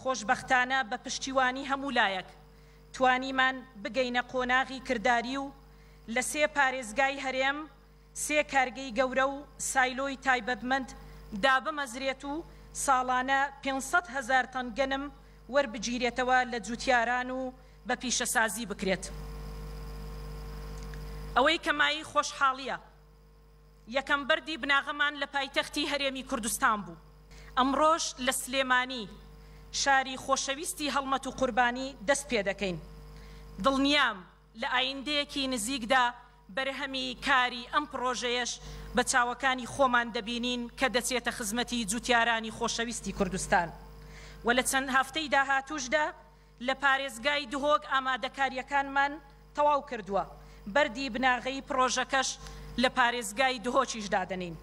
خۆشبەختانە بە پشتیوانی هەموو لایەک توانیمان بگەینە قۆناغی کرداری و لە سێ پارێزگای هەرێم سێ کارگەی گەورە و سایلۆی تایبەتمەند دابمەزرێت و ساڵانە پێنج سەد هەزار تەن گەنم وەربگیرێتەوە لە جوتیاران و بە پیشەسازی بکرێت ئەوەی کە مایەی خۆشحاڵیە. یەکەم بەردی بناغەمان لە پایتەختی هەرێمی کوردستان بوو، ئەمڕۆش لە سلێمانی شاری خۆشەویستی هەڵمەت و قوربانی دەست پێدەکەین، دڵنیام لە ئایندەیەکی نزیکدا بەرهەمی کاری ئەم پڕۆژەیەش بە چاوەکانی خۆمان دەبینین کە دەچێتە خزمەتی جوتیارانی خۆشەویستی کوردستان و لە چەند هەفتەی داهاتووشدا لە پارێزگای دهۆک ئامادەکارییەکانمان تەواو کردووە، بەردی بناغەیی پڕۆژەکەش لە پارێزگای دهۆکیش دادەنێین.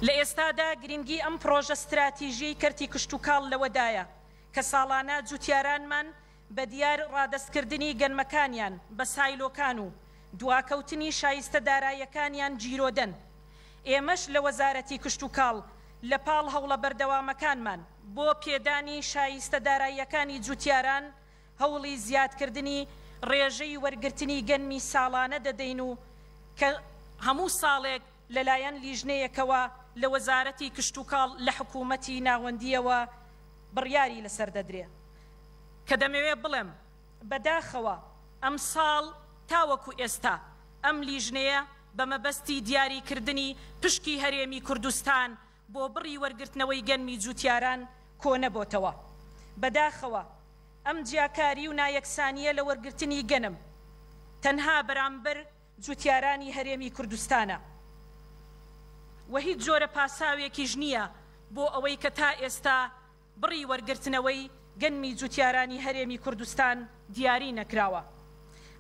لە ئێستادا گرنگی ئەم پڕۆژە ستراتیژیەی کەرتی کشتوکاڵ لەوەدایە کە ساڵانە جوتیارانمان بە دیار ڕادەستکردنی گەنمەکانیان بە سایلۆکان و دواکەوتنی شایستە دارایەکانیان گیرۆدەن، ئێمەش لە وەزارەتی کشتوکاڵ لە پاڵ هەوڵە بەردەوامەکانمان بۆ پێدانی شایستە داراییەکانی جوتیاران هەوڵی زیادکردنی ڕێژەی وەرگرتنی گەنمی ساڵانە دەدەین و کە هەموو ساڵێک لەلایەن لیژنەیەکەوە لە وەزارەتی کشتوکاڵ لە حکوومەتی ناوەندییەوە بڕیاری لەسەر دەدرێ کە دەمەوێ بڵێم بەداخەوە ئەمساڵ تاوەکو ئێستا ئەم لیژنەیە بە مەبەستی دیاریکردنی پشکی هەرێمی کوردستان بۆ بڕی وەرگرتنەوەی گەنمی جووتیاران کۆنەبۆتەوە. بەداخەوە ئەم جیاکاری و نایەکسانییە لە وەرگرتنی گەنم تەنها بەرامبەر جووتیارانی هەرێمی کوردستانە و هیچ جۆرە پاساوێکیش نییە بۆ ئەوەی کە تا ئێستا بڕی وەرگرتنەوەی گەنمی جوتیارانی هەرێمی کوردستان دیاری نەکراوە،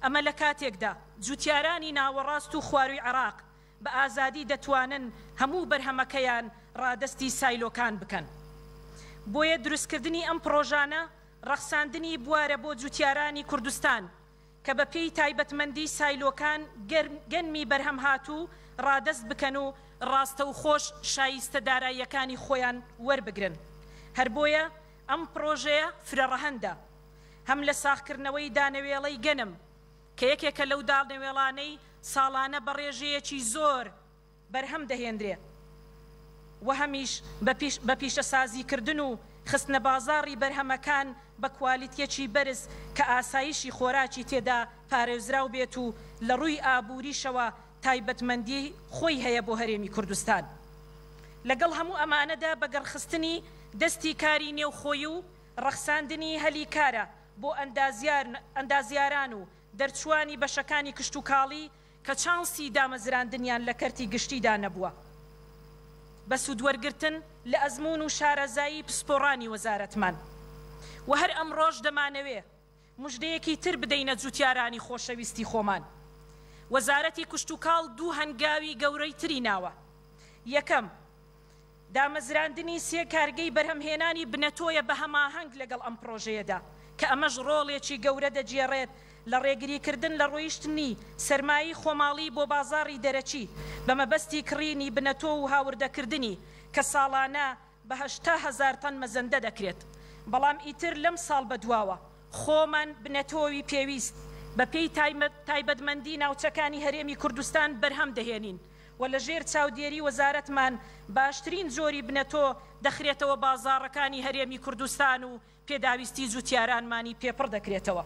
ئەمە لە کاتێکدا جوتیارانی ناوەڕاست و خواروی عێراق بە ئازادی دەتوانن هەموو بەرهەمەکەیان ڕادەستی سایلۆکان بکەن. بۆیە دروستکردنی ئەم پڕۆژانە ڕەخساندنی بوارە بۆ جوتیارانی کوردستان، کە بە پێی تایبەتمەندی سایلۆکان گەنمی بەرهەمهاتوو ڕادەست بکەن و ڕاستەوخۆش شایستە داراییەکانی خۆیان وەربگرن هەر بۆیە ئەم پڕۆژەیە فرەڕەهەندە هەم لە ساغکردنەوەی دانەوێڵەی گەنم کە یەکێکە لەو دانەوێڵانەی ساڵانە بە ڕێژەیەکی زۆر بەرهەم دەهێنرێ و هەمیش بە پیشەسازیکردن و خستنە بازاڕی بەرهەمەکان بە کوالیتییەکی بەرز کە ئاسایشی خۆراکی تێدا پارێزراو بێت و لە ڕووی ئابووریشەوە تایبەتمەندی خۆی هەیە بۆ هەرێمی کوردستان لەگەڵ هەموو ئەمانەدا بەگەڕخستنی دەستی کاری نێوخۆی و ڕەخساندنی هەلی کارە بۆ ئەندازیاران و دەرچووانی بەشەکانی کشتوکاڵی کە چانسی دامەزراندنیان لە کەرتی گشتیدا نەبووە بە سوودوەرگرتن لە ئەزموون و شارەزایی پسپۆڕانی وەزارەتمان و هەر ئەمڕۆش دەمانەوێ مژدەیەکی تر بدەینە جووتیارانی خۆشەویستی خۆمان وەزارەتی کشتوکاڵ دوو هەنگاوی گەورەی تری ناوە یەکەم دامەزراندنی سێ کارگەی بەرهەمهێنانی بنەتۆیە بە هەماهەنگ لەگەڵ ئەم پڕۆژەیەدا، کە ئەمەش ڕۆڵێکی گەورە دەگێڕێت لە ڕێگریکردن لە ڕۆیشتنی سەرمایەی خۆماڵی بۆ بازاڕی دەرەکی بە مەبەستی کڕینی بنەتۆ و هاوردەکردنی کە ساڵانە بە هەشتا هەزار تەن مەزەندە دەکرێت بەڵام ئیتر لەم ساڵ بەدواوە خۆمان بنەتۆی پێویست بەپێی تایبەتمەندی ناوچەکانی هەرێمی کوردستان بەرهەم دەهێنین. و لە ژێر چاودێری وەزارەتمان باشترین جۆری بنەتۆ دەخرێتەوە بازاڕەکانی هەرێمی کوردستان و پێداویستی جوتیارانمانی پێ پڕ دەکرێتەوە.